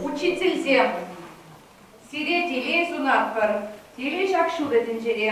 Учительсем, сире телей сунатпӑр, телей ҫак ҫутӑ тӗнчере.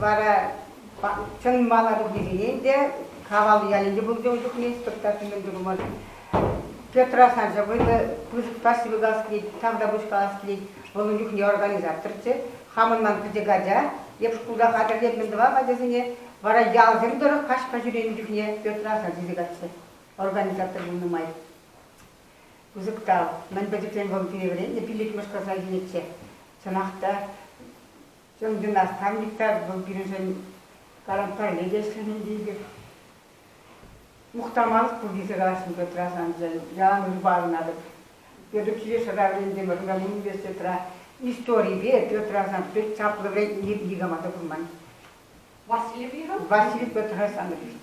Вара чӑн мала кӗртнисене те Кавал ялӗнче пулчӗ ун чухне спектакль мӗн турӑмӑр. Петра Санча вӑйлӑ пысӑк каҫ ҫӑвикалас килет, тавтапуҫ калас килет. Вӑл ун чухне организаторччӗ. Хамӑн ман пӗчӗк ача. Эп шкулта хатӗрлентӗм тӑван ачасене. Вара ялсем тӑрӑх каҫпа ҫӳренӗ чухне Петра Асан тесе каччӑ организатор пулнӑ май. Пысӑк та мӗн пӗчӗкрен вӑл вӗреннӗ пиллӗкмӗш класа илнӗччӗ. Чӑнах та, чӑн династамник та вӑл пирӗншӗн таран пӗрле те ӗҫлемен тейпек. Мухтамалӑх пурте сыхасшӑн Петра саншӑн, Ян Львовнатӑп. Петр Килешера вӗрентӗмӗр, унта университетра историпе Петра сан пек чаплӑ вӗрентнӗ никама та курман. Василий Василий Петр Александрович.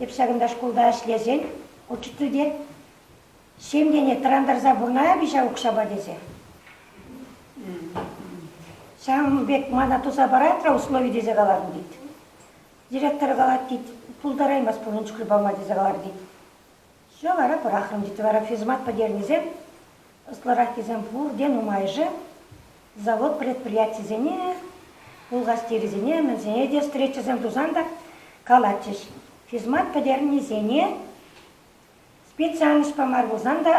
Эп ҫакӑнта шкулта ӗҫлесен учитель те ҫемьене тӑрантарса пурӑнаяп-и ҫав укҫапа тесе. Ҫавӑн пек мана туса парать-ра услови тесе калатӑн тет. Директор калать тет, пултараймасть пурин чухлӗ пама тесе калатӑн тет. Ҫав вара пӑрахрӑм, тет вара физмат пӗтернисем. Ӑслӑраххисем пурте нумайӑшӗ завод предприятийӗсене, пулхастерӗсене, мӗнсене те встречӑсем тусан та калатчӗҫ. Физмат пӗтернисене специальноҫпа мар пулсан та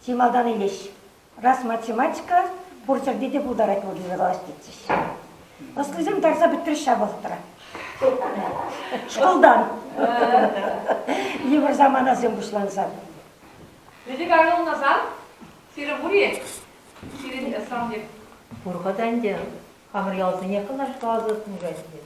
чи малтан илеҫҫӗ. Раз математика пур ҫӗрте те пултарать владимирла тетчӗҫ. Ӑслисем тарса пӗтрӗҫ ҫав вӑхӑтра. Шкултан йывӑр саманасем пуҫланса. Лидия Гавриловна сан сирӗн пур-и? Сирӗн сан пек. Пур-ха та ӗнтӗ. Хамӑр ялсене кӑнӑҫласа тытнӑ каҫ пек.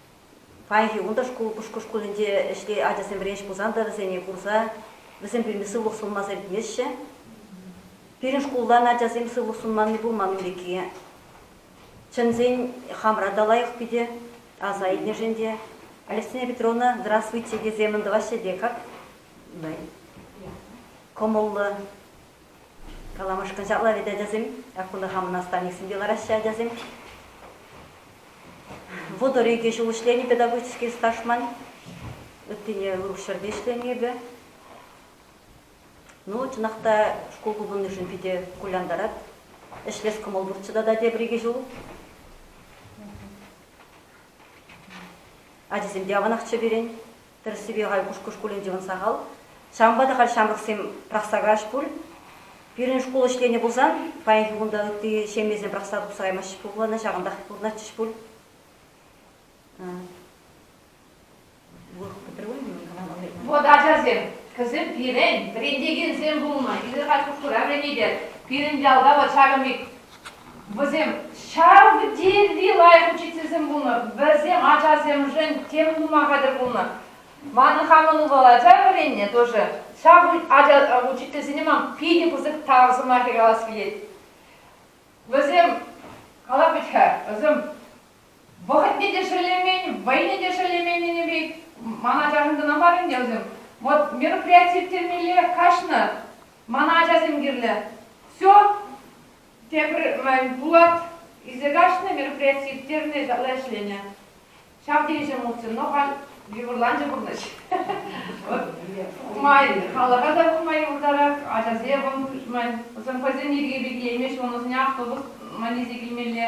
Паянхи кун та шкул Пушкӑрт шкулӗнче ӗҫре ачасемпе ӗҫ пулсан та вӗсене курса вӗсем пирки сывлӑх сунма сӗнтмеҫҫӗ. Пирӗн шкултан ачасем сывлӑх сунманни пулман ун пекки. Чӗнсен хамра та лайӑх питӗ, аса илнӗшӗн те. Алевтина Петровна, здравствуйте тесе мӑн тӑваҫҫӗ те как? Кӑмӑллӑ, Каламашкӑн ҫапла вӗт, ачасем. Ак кунта хамӑн наставниксем те лараҫҫӗ, ачасем. Вӑтӑр икӗ ҫул ӗҫленӗ педагогический стаж ман. Ыттине урӑх ҫӗрте ӗҫленӗ эпӗ. Ну, чӑнах та, шкул хупӑннишӗн питӗ кулянтарать. Ӗҫлес кӑмӑл пурччӗ тата тепӗр икӗ ҫул. Ачисем те аванахчӗ пирӗн. Тӗрӗссипе халь Кушкӑ шкулӗнче ун сахал. Ҫавӑнпа та халь ҫамрӑксем пӑрахса каяҫ пуль. Пирӗн шкул ӗҫленӗ пулсан, паянхи кун та ытти ҫемьесем пӑрахса тухса каймаҫҫӗ пуль пулана, ҫавӑнтах пурӑнатчӗҫ пуль. Вот ачасем, кӗсӗр пирӗн вӗрентекенсем пулнӑ. Эсир халь Кушкӑра вӗренетӗр. Пирӗн ялта вӑл ҫакӑн пек Вӗсем ҫав тери лайӑх учительсем пулнӑ. Вӗсем ачасемшӗн тем тума хатӗр пулнӑ. Манӑн хамӑн ывӑл ача вӗреннӗ тоже. Ҫав ача учительсене ман питӗ пысӑк тав сӑмахӗ калас килет. Вӗсем, калап вӗт-ха, вӗсем вӑхӑтне те шеллемен, вӑйне те шеллеменнин пек ман ачашӑм кӑна мар ӗнтӗ вӗсем. Вот мероприяти ирттермелле каҫнӑ, мана ачасем кирлӗ. Все, тепӗр Булат илсе каҫнӑ, мероприяти ирттернӗ, ытла ӗҫленӗ. Ҫав тери ҫӑмӑлччӗ, но халь йывӑрланчӗ пурнӑҫ. Пулмасть, халӑха та пулма юлтарать, ачасем вӑл мӑйсем хӑйсен йӗрки пек илеймеҫҫӗ, ун ӑсне автобус ман илсе килмелле.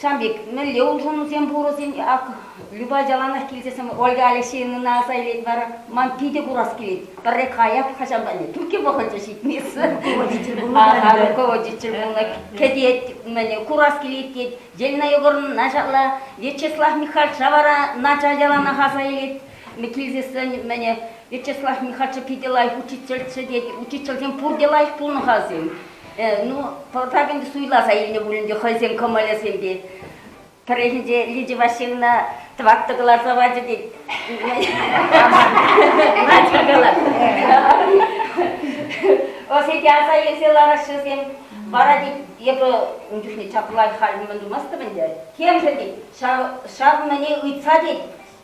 Ҫавӑн пек мӗнле улшӑнусем пурӑсен, ак Люба яланах килсе сӑмах Ольга Алексеевнӑна аса илет вара, ман питӗ курас килет. Пӗрре каяп хӑҫан та тӳркке вӑхӑчӗ ҫитмессе. Руководитель пулнӑ Ага, руководитель пулнӑ. Кӗтет, мӗн, курас килет тет. Зелина Егоровна начарла, Вячеслав Михальча вара начар яланах аса илет. Ми килсессӗн, мӗн, Вячеслав Михальча питӗ лайӑх учительччӗ тет. Учительсем пурте лайӑх пулнӑ-ха сем. ну, пӑртак ӗнтӗ суйласа илнӗ пулин те хӑйсен кӑмӑлӗсемпе. Пӗррехинче Лидия Васильевна тӑваттӑ кӑларса пачӗ тет. Начал калать. Ӑсете аса илсе лараҫҫӗсем. Вара тет, эпӗ ун чухне чаплай халь мӗн тумастӑп ӗнтӗ. Темшӗн тет, ҫав, ҫав мӗне ыйтса тет,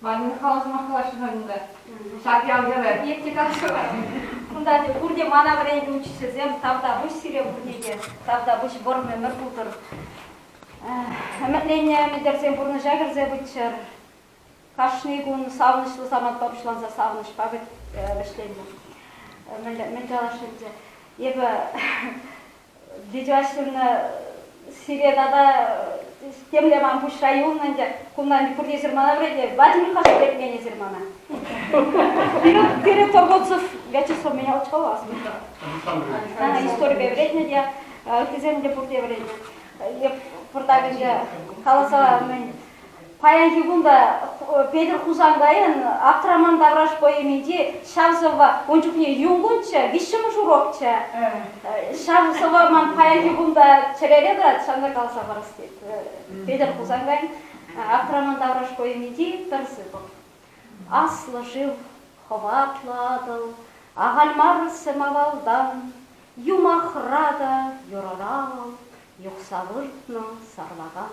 Ванюк хал сӑмахкалаҫҫӗ халь унта. Ҫак ял-йӑвӗ пит те каҫкӑлать. Кунта те пурте мана вӗрентнӗ учительсем. Тавтапуҫ сире пурне те, тавтапуҫ вӑрӑм ӗмӗр тутӑр. Ӗмӗтленнӗ ӗмӗтӗрсем пурнӑҫа кӗрсе пыччӑр. Кашни кун савӑнӑҫлӑ самантпа пуҫланса савӑнӑҫпа вӗҫленнӗ. Мӗн калас ӗнтӗ, эпӗ Дитяшкина сире тата темле ман пуҫра юлнӑ ӗнтӗ. Кунтан пурте ҫырмана вӗретӗ. Вадим Михайлович вӗретмен ҫырмана. Пире торговцев Вячеслав меня очковал. Она историпе вӗретнӗ те, ыттисем те пурте вӗретнӗ. Эп пуртак ӗнтӗ каласа мӗн Паянхи кун та Петӗр Хусанкайӑн Аптраман тавраш поэминчи ҫав сӑвва ун чухне юнкунччӗ, виҫҫӗмӗш урокчӗ. Ҫав сӑвва ман паянхи кун та чӗрере тӑрать, ҫавна каласа парас тет Петӗр Хусанкайӑн Аптраман тавраш поэминчи пӗр сыпӑк. Аслӑ шыв, хӑватлӑ Атӑл, ахаль мар сӗм авалтан, юмахра та юрӑра вӑл юхса выртнӑ сарлакан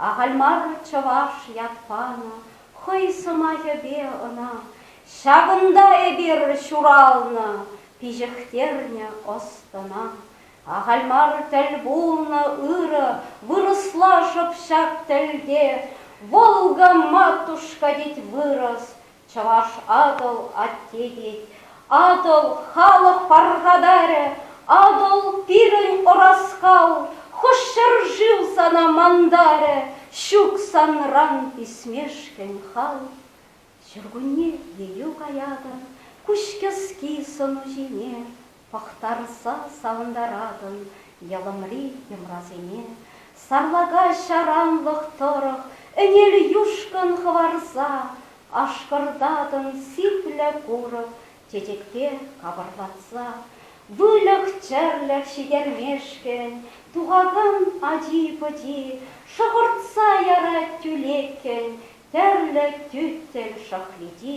Ахаль мар чӑваш ят панӑ хӑй сӑмахӗпе ӑна. Ҫакӑнта эпир ҫуралнӑ, пиҫӗхтернӗ ӑс-тӑна. Ахаль мар тӗл пулнӑ ырӑ вырӑсла шӑп ҫак тӗлте, Волга матушка тет вырӑс, Чӑваш Атӑл атте тет, Атӑл халӑх пархатарӗ, Атӑл пирӗн ӑраскал, Хӑш ҫӗршыв сана мантарӗ, Ҫук санран писмешкӗн хал. Ҫуркунне елӳ каятӑн Куҫкӗски сӑну ҫине. Пӑхтарса савӑнтаратӑн йӑлӑмри йӑмрасене, Сарлака ҫаранлӑх тӑрӑх ӗнел юшкӑн хӑварса, Ашкӑртатӑн сиплӗ курӑк чечекпе капӑрлатса. Выльӑх-чӗрлӗх ҫитермешкӗн тухакан ачи-пӑчи шӑхӑртса ярать тӳлеккӗн тӗрлӗ тӳттел шӑхличи.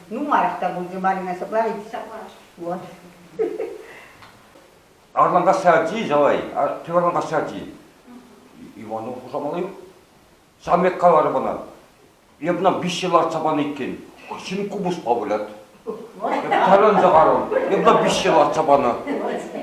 Нумайрах та пулчӗ Марина сӑплавӗ. Вот. Арланкассарти, Жалай, Кеварланкассарти. Иванов хушамалли ҫам пек каларӗ мана. Эп ӑна виҫҫе лартса панӑ иккен. Ҫын купӑспа вылять. Эп тарланса карӑм. Эп ӑна виҫҫе лартса панӑ.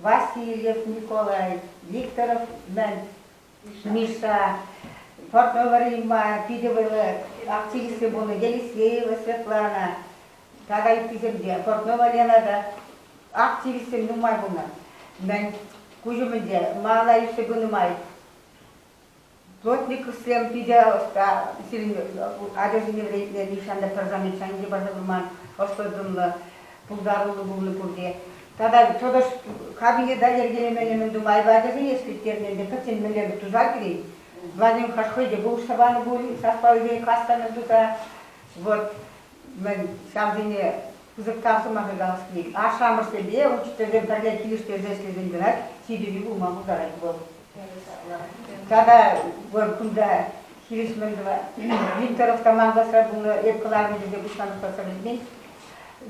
Васильев Николай, Викторов мӗн? Миша, фотовӑрйма питӗ вӑйлӑ активистсем пулнӑ Елисеева Светлана тата ыттисемпе, Портнова Лена та активистсем нумай пулнӑ. Мӗн куҫ умӗнче малалла ӳссе пынӑ май Плотниковсем питӗ ӑста сирӗн ачасене вӗрентнӗ, нихҫан та тӑрсан нихҫанхи парса курман ӑслӑ-тӑнлӑ, пултаруллӑ пулнӑ пурте. Тата тӑтӑш кабинета йӗркелеменӗмӗн тумай ачасене ӗскерттернӗ ӗнтӗ, пӗччен мӗнле туса килет. Владимир хӑш хӑй те пулӑшса панӑ пуль, саспа ӳсен каскана туса. Вот. мӗн, ҫавсене пысӑккан сӑмаха калас килет. Ашшӗ-амӑшсемпе учительсем пӗрле килӗштерсе ӗҫлесен кӑна тирпейли пулма пултарать вӑл. Тата вӑл кунта хирӗҫ мӗн тӑвать? Викторов командасра пулнӑ, эп кӑларнӑ тесе пуҫланӑ кӗтмен.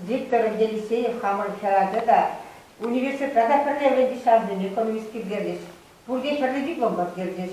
Виктор Елисеев хамӑр хӗрача та университетра та пӗрле вӗренчӗҫ, ҫавсем экономист килтерчӗҫ. Пурте хӗрлӗ диплом партерчӗҫ.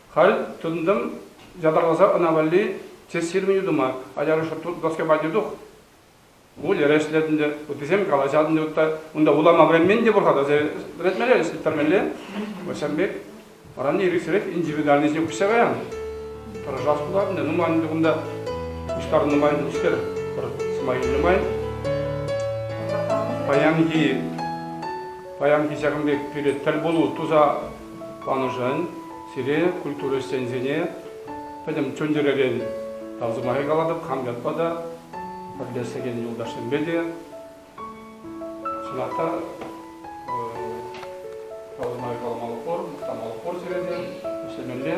Халь тытӑнтӑм ятарласа ӑна валли тестировани тума. Аялӑшра доскепа те тух. Выльӑра ӗҫлетӗн те, ыттисем калаҫатӑн те ытта. Унта вулама вӗренмен те пур-ха, тесе вӗрентмелле, ӗҫлеттермелле. Вӗсем пек вӑран ирӗксӗрех индивидуальноҫе уҫса каян. Тӑрӑшас пулать ӗнтӗ, нумайӑн ӗнтӗ кунта пуҫтарнӑ нумайӑн ӗҫкер пӗр сӑмах илнӗ нумайӑн. Паянхи паянхи ҫакӑн пек пире тӗл пулу туса Манӑшӑн сире культура ӗҫченӗсене пӗтӗм чун-чӗререн тав сӑмахӗ калатӑп. Хам ятпа та, пӗрлешсекен юлташсемпе те чӑнах та тав сӑмахӗ каламалӑх пур, мухтамалӑх пур сире те ӗҫлемелле.